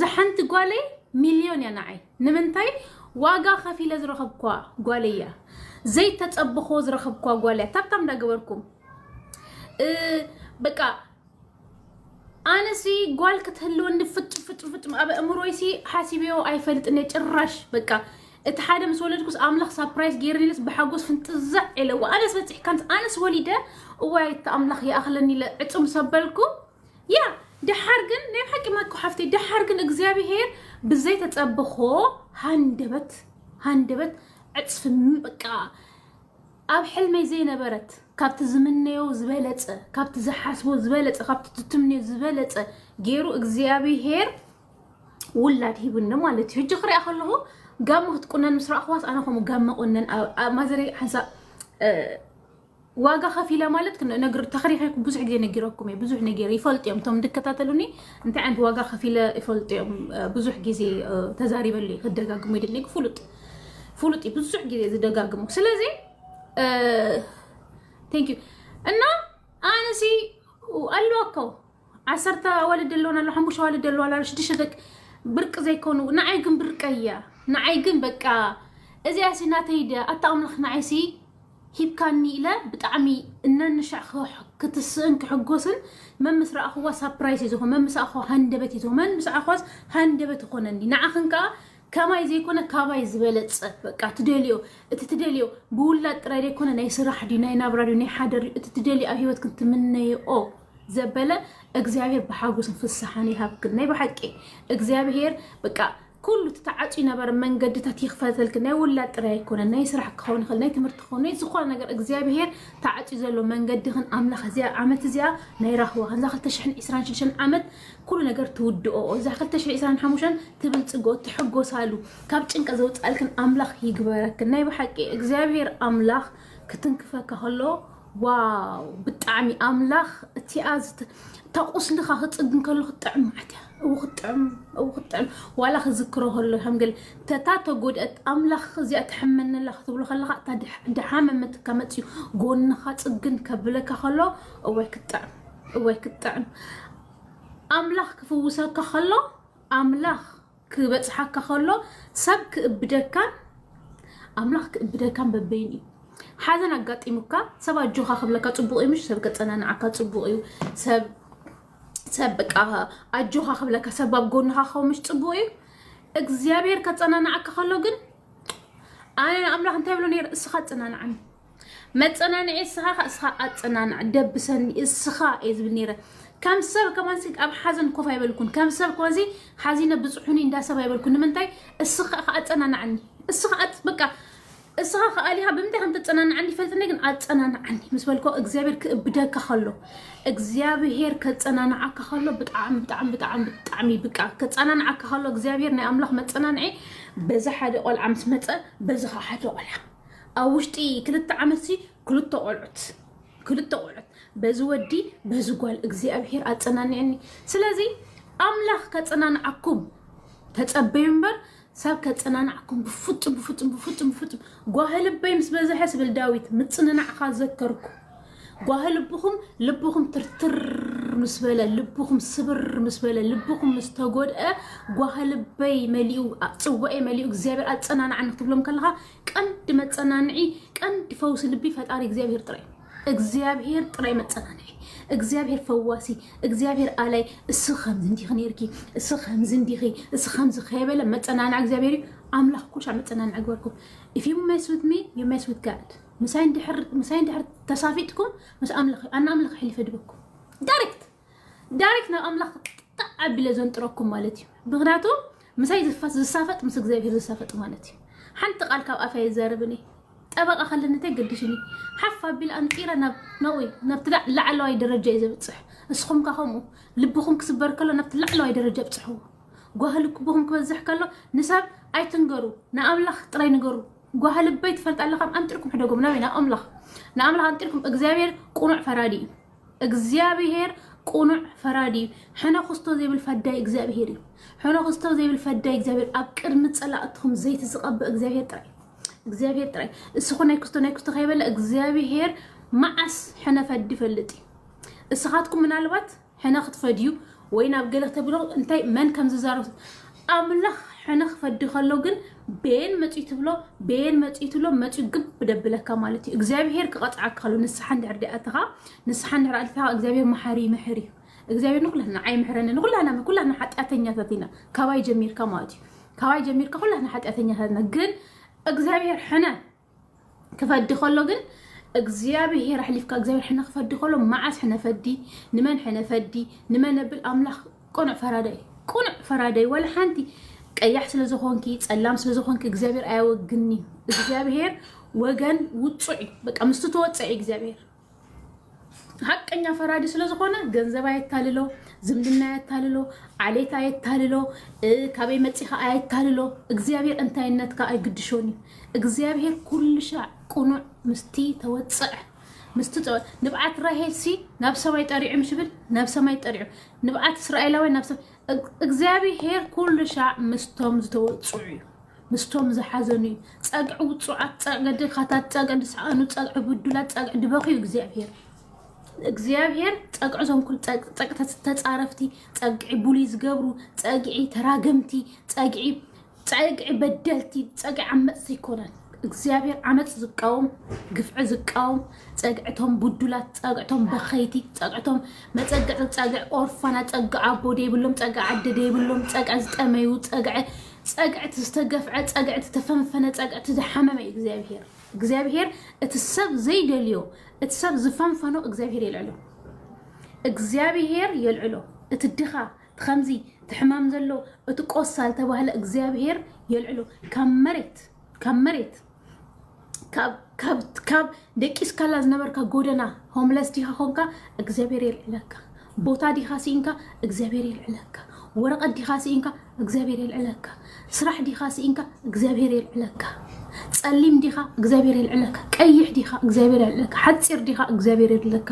እዛ ሓንቲ ጓለይ ሚልዮን እያ ንዓይ ንምንታይ ዋጋ ከፊለ ዝረኸብኳ ጓለይ እያ ዘይተፀበኾ ዝረኸብኳ ጓል እያ ታብታም እንዳገበርኩም በቃ ኣነሲ ጓል ክትህልወኒ ፍጡር ፍጡር ፍጡር ኣብ ኣእምሮይሲ ሓሲበዮ ኣይፈልጥን እየ ጭራሽ በቃ እቲ ሓደ ምስ ወለድኩስ ኣምላኽ ሳፕራይዝ ገይርኒለስ ብሓጎስ ፍንጥዛዕ ኢለዎ ኣነስ በፂሕካንስ ኣነስ ወሊደ እዋይ እቲ ኣምላኽ ይኣኽለኒ ኢለ ዕፁም ሰበልኩ ያ ደሓር ግን ናይ ብሓቂ ማኮ ሓፍተይ ደሓር ግን እግዚኣብሄር ብዘይ ተጸብኾ ሃንደበት ሃንደበት ዕጽፊ ም- በቃ ኣብ ሕልመይ ዘይነበረት ካብቲ ዝምነዮ ዝበለጸ ካብቲ ዝሓስቦ ዝበለጸ ካብቲ ትትምንዮ ዝበለጸ ገይሩ እግዚኣብሄር ውላድ ሂቡኒ ማለት እዩ ሕጂ ክሪኣ ከለኹ ጋመ ክትቁነን ምስ ረኣኽዋስ ኣነ ከምኡ ጋመ ቁነን ኣብ- ኣብ ማዘረይ ሓንሳእ ዋጋ ከፊለ ማለት ነግር ተኽሪኸ ብዙሕ ግዜ ነጊረኩም እየ ብዙሕ ነጊረ ይፈልጡ እዮም እቶም እንድከታተሉኒ እንታይ ዓይነት ዋጋ ከፊለ ይፈልጡ እዮም ብዙሕ ግዜ ተዛሪበሉ እዩ ክደጋግሙ ይድሊ ፍሉጥ ፍሉጥ እዩ ብዙሕ ግዜ ዝደጋግሙ ስለዚ ቴንክ ዩ እና ኣነሲ ኣለዋከው ዓሰርተ ኣዋልድ ኣለዋን ኣሎ ሓሙሽተ ኣዋልድ ኣለዋ ኣሎ ሽዱሽተ ደቂ ብርቂ ዘይኮኑ ንዓይ ግን ብርቀይ እያ ንዓይ ግን በቃ እዚኣ ሲ ናተይ ድያ ኣታ ኣምላኽ ንዓይ ሲ ሂብካኒ ኢለ ብጣዕሚ እናንሻዕ ክትስእን ክሕጎስን መን ምስ ረኣኽዋ ሳፕራይስ እዩ ዝኾን መን ምስ ኣኸዋ ሃንደበት እዩ ዝኾን መን ምስ ኣኸዋስ ሃንደበት ይኾነኒ ንዓኽን ከዓ ከማይ ዘይኮነ ካባይ ዝበለጸ በቃ ትደልዮ እቲ ትደልዮ ብውላድ ጥራይ ዘይኮነ ናይ ስራሕ ድዩ ናይ ናብራ ድዩ ናይ ሓደር ድዩ እቲ ትደልዮ ኣብ ሂወት ክትምነይኦ ዘበለ እግዚኣብሔር ብሓጎስን ፍስሓን ይሃብክን ናይ ብሓቂ እግዚኣብሔር በቃ ኩሉ እቲ ተዓፅዩ ነበረ መንገድታት ይኽፈተልክን ናይ ውላድ ጥራይ ኣይኮነን ናይ ስራሕ ክኸውን ይኽእል ናይ ትምህርቲ ክኸውን ናይ ዝኾነ ነገር እግዚኣብሔር ተዓፅዩ ዘሎ መንገድኽን ኣምላኽ እዚኣ ዓመት እዚኣ ናይ ራህዋኽን እዛ 2026 ዓመት ኩሉ ነገር ትውድኦኦ እዛ ክልተ ሽሕን ዕስራን ሓሙሽተን ትብልጽግኦ ትሕጎሳሉ ካብ ጭንቀት ዘውጽኣልክን ኣምላኽ ይግበረክን ናይ ብሓቂ እግዚኣብሄር ኣምላኽ ክትንክፈካ ከሎ ዋው ብጣዕሚ ኣምላኽ እቲኣ ዝት- እታ ቁስልኻ ክጽግን ከሎ ክትጥዕም ማለት እያ እው ክትጥዕም እው ክትጥዕም ዋላ ክዝክሮ ከሎ ከም ገለ ተታ ተጎድአት ኣምላኽ እዚኣ ትሕመነላ ክትብሎ ከለኻ እታ ድሕ- ድሓመመትካ መፅዩ ጎንኻ ጽግን ከብለካ ከሎ እዋይ ክትጥዕም እዋይ ክትጥዕም ኣምላኽ ክፍውሰካ ከሎ ኣምላኽ ክበፅሓካ ከሎ ሰብ ክእብደካን ኣምላኽ ክእብደካን በበይን እዩ ሓዘን ኣጋጢሙካ ሰብ ኣጆኻ ክብለካ ፅቡቅ እዩ ምሽ ሰብ ከፀናንዓካ ፅቡቅ እዩ ሰብ ሰብ በቃ ኣጆኻ ክብለካ ሰብ ኣብ ጎንኻ ክኸውን ምሽ ፅቡቅ እዩ እግዚኣብሔር ከፀናንዓካ ከሎ ግን ኣነ ንኣምላኽ እንታይ ብሎ ነይረ እስኻ ኣፀናንዓኒ መጸናንዒ እስኻ ከ እስኻ ኣጸናናዕ ደብሰኒ እስኻ እየ ዝብል ነይረ ከም ሰብ ከማንሲ ኣብ ሓዘን ኮፍ ኣይበልኩን ከም ሰብ ከማንሲ ሓዚነ ብጽሑኒ እንዳ ሰብ ኣይበልኩን ንምንታይ እስኻ ከ ኣጸናናዕኒ እስኻ በቃ እስኻ ከኣሊኻ ብምንታይ ከም ተጸናንዓኒ ይፈልጥኒ ግን ኣጸናንዓኒ ምስ በልኮ እግዚኣብሔር ክእብደካ ከሎ እግዚኣብሔር ከጸናንዓካ ከሎ ብጣዕሚ ብጣዕሚ ብጣዕሚ ብጣዕሚ ብቃ ከጸናንዓካ ከሎ እግዚኣብሔር ናይ ኣምላኽ መጸናንዒ በዚ ሓደ ቆልዓ ምስ መጸ በዚ ከዓ ሓደ ቆልዓ ኣብ ውሽጢ ክልተ ዓመት ሲ ክልተ ቆልዑት ክልተ ቆልዑት በዚ ወዲ በዚ ጓል እግዚኣብሄር ኣጸናንዐኒ። ስለዚ ኣምላኽ ከጸናንዓኩም ተጸበዩ እምበር ሰብ ከጸናንዓኩም ብፍጹም ብፍጹም ብፍጹም ብፍጹም ጓህልበይ ምስ በዝሐ ስብል ዳዊት ምጽንናዕካ ዘከርኩ ጓሂ ልብኹም ልብኹም ትርትር ምስ በለ ልብኹም ስብር ምስ በለ ልብኹም ምስ ተጎድአ ጓሂ ልበይ መሊኡ ፅዋኤ መሊኡ እግዚኣብሔር ኣፀናናዕኒ ክትብሎም ከለኻ ቀንዲ መፀናንዒ ቀንዲ ፈውሲ ልቢ ፈጣሪ እግዚኣብሔር ጥራይ እግዚኣብሔር ጥራይ መፀናንዒ እግዚኣብሔር ፈዋሲ እግዚኣብሔር ኣላይ እሱ ከምዚ እንዲኺ ነርኪ እሱ ከምዚ እንዲኺ እሱ ከምዚ ከይበለ መፀናንዒ እግዚኣብሔር እዩ ኣምላኽ ኩሻ መፀናንዒ ግበርኩም if you mess with me you mess with God ምሳይ እንድሕር ምሳይ እንድሕር ተሳፊጥኩም ምስ ኣምላኽ እዩ ኣና ኣምላኽ ሕሊፈ ድበኩም ዳይሬክት ዳይሬክት ናብ ኣምላኽ ጣዕ ኣቢለ ዘንጥረኩም ማለት እዩ ምክንያቱ ምሳይ ዝፋት ዝሳፈጥ ምስ እግዚኣብሄር ዝሳፈጥ ማለት እዩ ሓንቲ ቃል ካብ ኣፈ የዘርብኒ ጠበቃ ከለኒ እንታይ ገድሽኒ ሓፍ ኣቢል ኣንጢረ ናብ ናብኡ እዩ፣ ናብቲ ላ- ላዕለዋይ ደረጃ እዩ ዘብፅሕ እስኹም ከ ከምኡ ልብኹም ክስበር ከሎ ናብቲ ላዕለዋይ ደረጃ ብፅሕዎ ጓህልኩብኹም ክበዝሕ ከሎ ንሰብ ኣይትንገሩ ንኣምላኽ ጥራይ ንገሩ ጓሃ ልበይ ትፈልጣ ኣለካ ብ ኣንጢርኩም ሕደጎም ናበይ ናብ ኣምላኽ ናብ ኣምላኽ ኣንጢርኩም እግዚኣብሔር ቁኑዕ ፈራዲ እዩ እግዚኣብሔር ቁኑዕ ፈራዲ እዩ ሕነ ክስቶ ዘይብል ፈዳይ እግዚኣብሔር እዩ ሕነ ክስቶ ዘይብል ፈዳይ እግዚኣብሔር ኣብ ቅድሚ ጸላእትኩም ዘይቲ ዝቐብእ እግዚኣብሔር ጥራይ እግዚኣብሔር ጥራይ እስኹ ናይ ክስቶ ናይ ክስቶ ከይበለ እግዚኣብሔር መዓስ ሕነ ፈዲ ይፈልጥ እዩ እስኻትኩም ምናልባት ሕነ ክትፈ ድዩ ወይ ናብ ገለ ተብሎ እንታይ መን ከም ዝዛረብ ኣምላኽ ሕነ ክፈዲ ከሎ ግን በየን መጽዩ ትብሎ በየን መጽዩ ትብሎ መጽዩ ግብ ደብለካ ማለት እዩ እግዚኣብሄር ክቐጽዓካ ከሎ ንስሓ እንድሕር ደኣተኻ ንስሓ እንድሕር ኣልትኻ እግዚኣብሄር መሓሪ ይምሕር እዩ እግዚኣብሄር ንኩላትና ኣይምሕረኒ ንኩላትና ኩላትና ሓጢኣተኛታት ኢና ካባይ ጀሚርካ ማለት እዩ ካባይ ጀሚርካ ኩላትና ሓጢኣተኛታት ኢና ግን እግዚኣብሄር ሕነ ክፈዲ ከሎ ግን እግዚኣብሄር ኣሕሊፍካ እግዚኣብሄር ሕነ ክፈዲ ከሎ መዓስ ሕነ ፈዲ ንመን ሕነ ፈዲ ንመን ነብል ኣምላኽ ቅኑዕ ፈራዳይ ቅኑዕ ፈራዳይ ወላ ሓንቲ ቀያሕ ስለ ዝኾንኪ ጸላም ስለ ዝኾንኪ እግዚኣብሄር ኣያወግኒ እግዚኣብሄር ወገን ውጹዕ እዩ በቃ ምስቲ ተወጸ እዩ እግዚኣብሄር ሀቀኛ ፈራዲ ስለዝኾነ ገንዘብ ኣየታልሎ፣ ዝምድና ኣየታልሎ፣ ዓሌት ኣየታልሎ፣ ካበይ መፂኻ ኣየታልሎ። እግዚኣብሔር እንታይነትካ ኣይግድሾን እዩ። እግዚኣብሔር ኩልሻዕ ቅኑዕ ምስቲ ተወፅዐ ምስቲ ንብዓት ራሄልሲ ናብ ሰማይ ጠሪዑ ምስ ናብ ሰማይ ጠሪዑ ንብዓት እስራኤላውያን ናብ እግዚኣብሄር ኩሉ ሻዕ ምስቶም ዝተወጽዑ እዩ፣ ምስቶም ዝሓዘኑ እዩ። ጸግዒ ውጹዓት፣ ጸግዒ ድኻታት፣ ጸግዒ ዝሰኣኑ፣ ጸግዒ ብዱላት፣ ጸግዒ ድበኽ እዩ እግዚኣብሄር። እግዚኣብሄር ጸግዒ እዞም ኩሉ ጸግ- ጸግ- ተጻረፍቲ፣ ጸግዒ ቡሊ ዝገብሩ፣ ጸግዒ ተራገምቲ፣ ጸግዒ ፀግዒ በደልቲ ፀግዒ ዓመፅቲ ኣይኮነን እግዚኣብሔር ዓመፅ ዝቃወም ግፍዒ ዝቃወም ፀግዕቶም ቡዱላት ፀግዕቶም በኸይቲ ፀግዕቶም መፀግዒ ፀግዒ ኦርፋና ፀግዒ ኣቦ ደይብሎም ፀግዒ ኣደ ደይብሎም ፀግዒ ዝጠመዩ ፀግዒ ፀግዕቲ ዝተገፍዐ ፀግዕቲ ዝተፈንፈነ ፀግዕቲ ዝሓመመ እዩ እግዚኣብሔር እግዚኣብሔር እቲ ሰብ ዘይደልዮ እቲ ሰብ ዝፈንፈኖ እግዚኣብሔር የልዕሎ እግዚኣብሔር የልዕሎ እቲ ድኻ ትከምዚ ትሕማም ዘሎ እቲ ቆሳ ዝተባህለ እግዚኣብሄር የልዕሎ ካብ መሬት ካብ መሬት ካብ ደቂስካላ ዝነበርካ ጎደና ሆምለስ ዲካ ኮንካ እግዚኣብሄር የልዕለካ ቦታ ዲካ ሲኢንካ እግዚኣብሄር የልዕለካ ወረቀት ዲካ ሲኢንካ እግዚኣብሄር የልዕለካ ስራሕ ዲኻ ስኢንካ እግዚኣብሔር የልዕለካ ጸሊም ዲኻ እግዚኣብሔር የልዕለካ ቀይሕ ዲኻ እግዚኣብሔር የልዕለካ ሓጺር ዲኻ እግዚኣብሔር የልዕለካ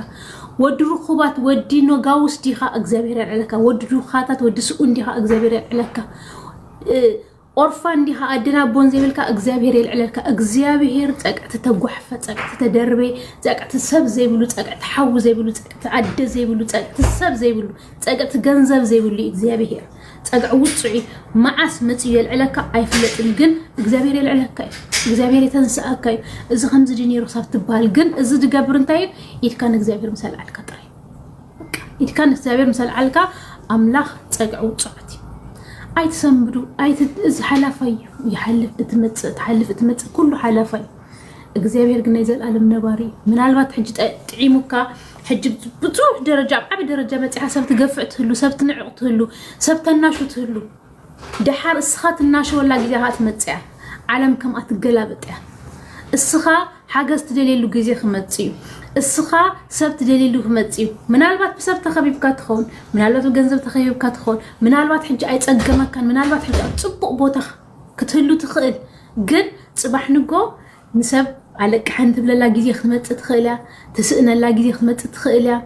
ወዲ ርኹባት ወዲ ኖጋውስ ዲኻ እግዚኣብሔር የልዕለካ ወዲ ዱኻታት ወዲ ስኡን ዲኻ እግዚኣብሔር የልዕለካ ኦርፋን ዲኻ ኣድና ቦን ዘይብልካ እግዚኣብሔር የልዕለካ እግዚኣብሔር ጸቅቲ ተጓሕፈ ጸቅቲ ተደርበ ጸቅቲ ሰብ ዘይብሉ ጸቅቲ ሓዊ ዘይብሉ ጸቅቲ ኣደ ዘይብሉ ጸቅቲ ሰብ ዘይብሉ ጸግዕቲ ገንዘብ ዘይብሉ እዩ እግዚኣብሄር ጸግዒ ውጹዕ እዩ መዓስ መጺኡ የልዕለካ ኣይፍለጥን እዩ ግን እግዚኣብሄር የልዕለካ እዩ እግዚኣብሄር የተንስኣካ እዩ እዚ ከምዚ ድዩ ነይሩ ክሳብ ትበሃል ግን እዚ ዝገብር እንታይ እዩ ኢድካ ንእግዚኣብሄር ምስ ኣልዓልካ ጥራይ ኢድካ ንእግዚኣብሄር ምስ ኣልዓልካ ኣምላኽ ጸግዒ ውጹዓት እዩ ኣይትሰንብዱ እዚ ሓላፋይ እዩ ይሓልፍ እትመጽእ ትሓልፍ እትመጽእ ኩሉ ሓላፋይ እግዚኣብሔር ግን ናይ ዘላለም ነባሪ እዩ። ምናልባት ሕጂ ጥዒሙካ ሕጂ ብዙሕ ደረጃ ኣብ ዓብ ደረጃ በፂሓ ሰብ ትገፍዕ ትህሉ፣ ሰብ ትንዕቕ ትህሉ፣ ሰብ ተናሹ ትህሉ። ደሓር እስኻ ትናሸወላ ግዜ ኸዓ ትመፅእ እያ። ዓለም ከምኣ ትገላበጥ እያ። እስኻ ሓገዝ ትደልየሉ ግዜ ክመፅ እዩ። እስኻ ሰብ ትደልየሉ ክመፅ እዩ። ምናልባት ብሰብ ተኸቢብካ ትኸውን፣ ምናልባት ብገንዘብ ተኸቢብካ ትኸውን፣ ምናልባት ሕጂ ኣይፀገመካን፣ ምናልባት ሕጂ ኣብ ፅቡቕ ቦታ ክትህሉ ትኽእል ግን ፅባሕ ንጎ ንሰብ ኣለቅሐን ትብለላ ግዜ ክትመፅእ ትኽእል እያ ትስእነላ ግዜ ክትመፅእ ትኽእል እያ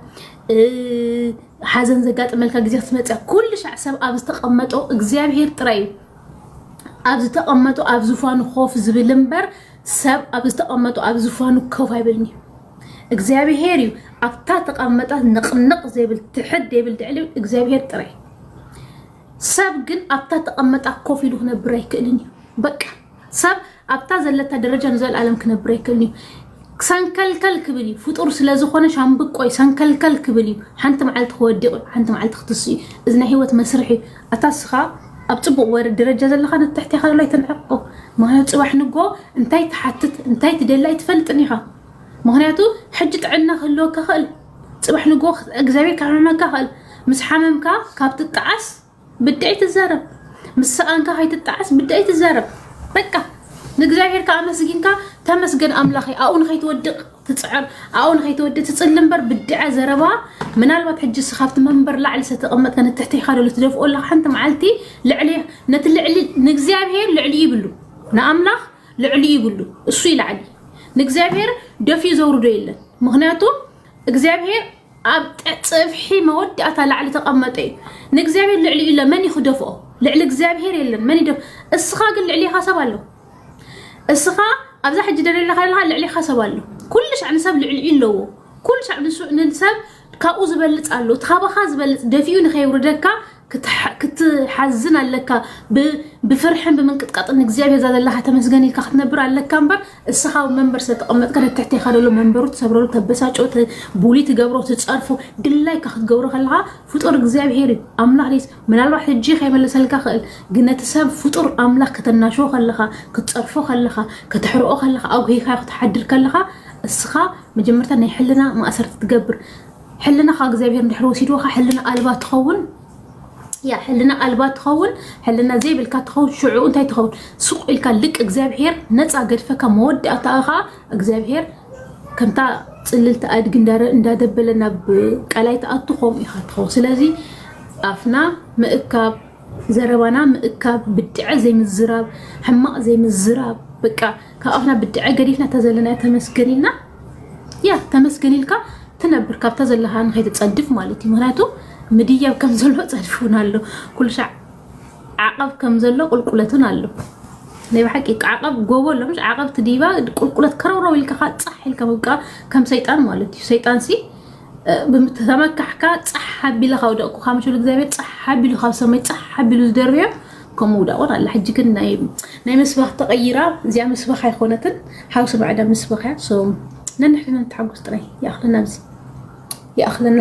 ሓዘን ዘጋጥመልካ ግዜ ክትመፅእ ኩሉ ሻዕ ሰብ ኣብ ዝተቐመጦ እግዚኣብሄር ጥራይ እዩ ኣብ ዝተቐመጡ ኣብ ዝፋኑ ኮፍ ዝብል እምበር ሰብ ኣብ ዝተቐመጡ ኣብ ዝፋኑ ኮፍ ኣይብልን እዩ እግዚኣብሄር እዩ ኣብታ ተቐመጣት ንቕንቕ ዘይብል ትሕድ ዘይብል ድዕሊ እግዚኣብሄር ጥራይ ሰብ ግን ኣብታ ተቐመጣ ኮፍ ኢሉ ክነብር ኣይክእልን እዩ። በቃ ሰብ ኣብታ ዘለታ ደረጃ ንዘለኣለም ክነብር ኣይክእልን እዩ። ሰንከልከል ክብል እዩ ፍጡር ስለ ዝኾነ ሻምብቆይ ሰንከልከል ክብል እዩ። ሓንቲ መዓልቲ ክወዲቕ እዩ፣ ሓንቲ መዓልቲ ክትስ እዩ። እዚ ናይ ህይወት መስርሕ እዩ። ኣታ ስኻ ኣብ ፅቡቕ ወረ ደረጃ ዘለካ ንትሕቲ ኢኻ ሎ ኣይተንዕቆ ምክንያቱ ፅባሕ ንጎ እንታይ ትሓትት እንታይ ትደሊ ኣይትፈልጥን ኢኻ ምክንያቱ ሕጂ ጥዕና ክህልወካ ክእል ጽባሕ ንግሆ እግዚኣብሔር ክሕመመካ ይኽእል። ምስ ሓመምካ ካብ ትጠዓስ ብድዐይ ትዛረብ፣ ምስ ሰኣንካ ከይትጠዓስ ብድዐይ ትዛረብ። በቃ ንእግዚኣብሔር ከዓ ኣመስጊንካ ተመስገን ኣምላኸይ ኣብኡ ንኸይትወድቕ ትፅዕር ኣብኡ ንኸይትወድእ ትፅሊ እምበር ብድዐ ዘረባ ምናልባት ሕጂ ስ ካብቲ መንበር ላዕሊ ዝተቐመጥካ ንትሕቲኻ ዶ ትደፍኦ ኣለካ ሓንቲ መዓልቲ ልዕሊ ነቲ ልዕሊ ንእግዚኣብሔር ልዕሊ ይብሉ ንኣምላኽ ልዕሊ ይብሉ እሱ ይላዕሊ ንእግዚኣብሔር ደፊኡ ዘውርዶ የለን ምክንያቱ እግዚኣብሔር ኣብ ፅፍሒ መወዳእታ ላዕሊ ተቐመጠ እዩ ንእግዚኣብሔር ልዕሊ ኢለ መን እዩ ክደፍኦ ልዕሊ እግዚኣብሔር የለን መን ይደፍ እስኻ ግን ልዕሊኻ ሰብ ኣሎ እስኻ ኣብዛ ሕጂ ደለለኻ ኣለኻ ልዕሊኻ ሰብ ኣሎ ኩሉ ሻዕ ንሰብ ልዕሊ ኣለዎ ኩሉ ሻዕ ንሱ- ንሰብ ካብኡ ዝበልፅ ኣሎ ካባኻ ዝበልፅ ደፊኡ ንከይውርደካ ክትሓዝን ኣለካ ብፍርሕን ብምንቅጥቃጥን ንእግዚኣብሔር እዛ ዘለካ ተመስገን ኢልካ ክትነብር ኣለካ እምበር እስኻ ኣብ መንበር ስለተቐመጥካ ነትሕቴኻ ደሎ መንበሩ ትሰብረሉ ተበሳጮ ቡሊ ትገብሮ ትፀርፎ ድላይካ ክትገብሮ ከለካ ፍጡር እግዚኣብሔር እዩ ኣምላክ ምናልባት ሕጂ ከይመልሰልካ ይኽእል ግን ነቲ ሰብ ፍጡር ኣምላኽ ከተናሽዎ ከለኻ ክትጸርፎ ከለኻ ከተሕርኦ ከለኻ ኣጉሂኻዮ ክትሓድር ከለኻ እስኻ መጀመርታ ናይ ሕልና ማእሰርቲ ትገብር ሕልናኻ እግዚኣብሔር እንድሕር ወሲድዎኻ ሕልና ኣልባ ትኸውን ያ ሕልና ኣልባ ትኸውን ሕልና ዘይብልካ ትኸውን ሽዑ እንታይ ትኸውን ሱቅ ኢልካ ልቅ እግዚኣብሔር ነፃ ገድፈካ መወዳእታኻ እግዚኣብሔር ከምታ ፅልልቲ ኣድጊ እንዳደበለ ናብ ቀላይ ትኣቱ ከምኡ ኢኻ ትኸውን ስለዚ ኣፍና ምእካብ ዘረባና ምእካብ ብድዐ ዘይምዝራብ ሕማቕ ዘይምዝራብ በቃ ካብ ኣፍና ብድዐ ገዲፍና እታ ዘለና ተመስገን ኢልና ያ ተመስገን ኢልካ ትነብር ካብታ ዘለካ ንከይትፀድፍ ማለት እዩ ምክንያቱ ምድያብ ከም ዘሎ ፀድፉና ኣሎ ኩሉ ሻዕ ዓቐብ ከም ዘሎ ቁልቁለትን ኣሎ ናይ ብሓቂ ዓቐብ ጎቦ ኣሎ ምሽ ዓቐብ ትዲባ ቁልቁለት ከረውረው ኢልካ ካ ጻሕ ኢልካ ምብቃ ከም ሰይጣን ማለት እዩ ሰይጣን ሲ ተመካሕካ ጻሕ ሓቢለ ካብ ደቕኩ ካብ ምሽሉ እግዚኣብሔር ጻሕ ሓቢሉ ካብ ሰማይ ጻሕ ሓቢሉ ዝደርብዮ ከም ምውዳቑን ኣላ ሕጂ ግን ናይ ምስባኽ ተቐይራ እዚኣ ምስባኽ ኣይኮነትን ሓውሲ ማዕዳ ምስባኽ እያ ሶ ነንሕድና ንተሓጎስ ጥራይ ይኣኽለና ኣብዚ ይኣኽለና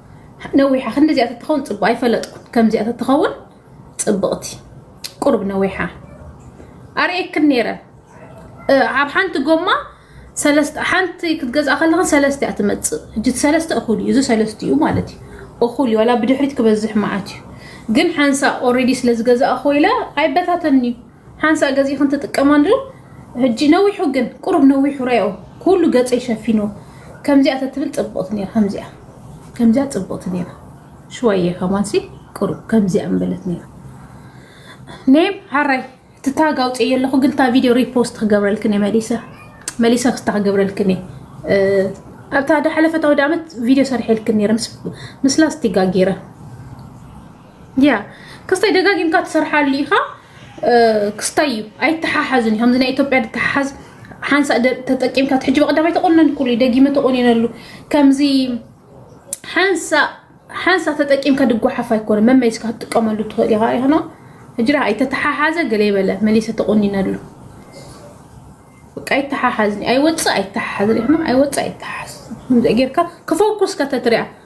ነዊሓ ክንዲዚኣ ተትኸውን ፅቡቅ ኣይፈለጥኩን ከምዚኣ ተትኸውን ፅብቅቲ ቁርብ ነዊሓ ኣርእየክን ነይረ ኣብ ሓንቲ ጎማ ሓንቲ ክትገዝኣ ከለኽን ሰለስተ እያ ትመፅእ እጅ ሰለስተ እኹል እዩ እዚ ሰለስተ እዩ ማለት እዩ እኹል እዩ ዋላ ብድሕሪት ክበዝሕ መዓት እዩ ግን ሓንሳ ኦልሬዲ ስለዝገዛእኹ ኢለ ኣይበታተን እዩ ሓንሳእ ገዚእክን ትጥቀማሉ ሕጂ ነዊሑ ግን ቁሩብ ነዊሑ ረኦ ኩሉ ገጸይ ሸፊኑ ከምዚኣ ተትብል ጽብቕቲ ነይራ ከምዚኣ ከምዚኣ ጽብቕቲ ነይራ ሽዋየ ከማንሲ ቁሩብ ከምዚኣ ምበለት ነይራ ኔም ሓራይ ትታግ ኣውፅእ የለኹ ግን እታ ቪድዮ ሪፖስት ክገብረልክን እየ መሊሰ መሊሰ ክስታ ክገብረልክን እየ ኣብታ ዳሓለፈት ኣውደ ዓመት ቪድዮ ሰርሐልክን ነይረ ምስ ላስቲጋ ገይረ ያ ክስታይ ደጋጊምካ ትሰርሓሉ ኢኻ ክስታይ እዩ ኣይተሓሓዝን ከምዚ ናይ ኢትዮጵያ ድተሓሓዝ ሓንሳእ ተጠቂምካ ሕጂ በቀዳማይ ተቆነንኩሉ ደጊመ ተቆኒነሉ ከምዚ ሓንሳእ ሓንሳ ተጠቂምካ ድጓሓፍ ኣይኮነ መመሊስካ ክትጥቀመሉ ትኽእል ኢኻ ይኾኖ ሕጅራ ኣይተተሓሓዘ ገለ ይበለ መሊሰ ተቆኒነሉ ኣይተሓሓዝን ኣይወፅእ ኣይተሓሓዝን ይኾኖ ኣይወፅእ ኣይተሓሓዝ ጌርካ ክፎኩስ ከተትሪያ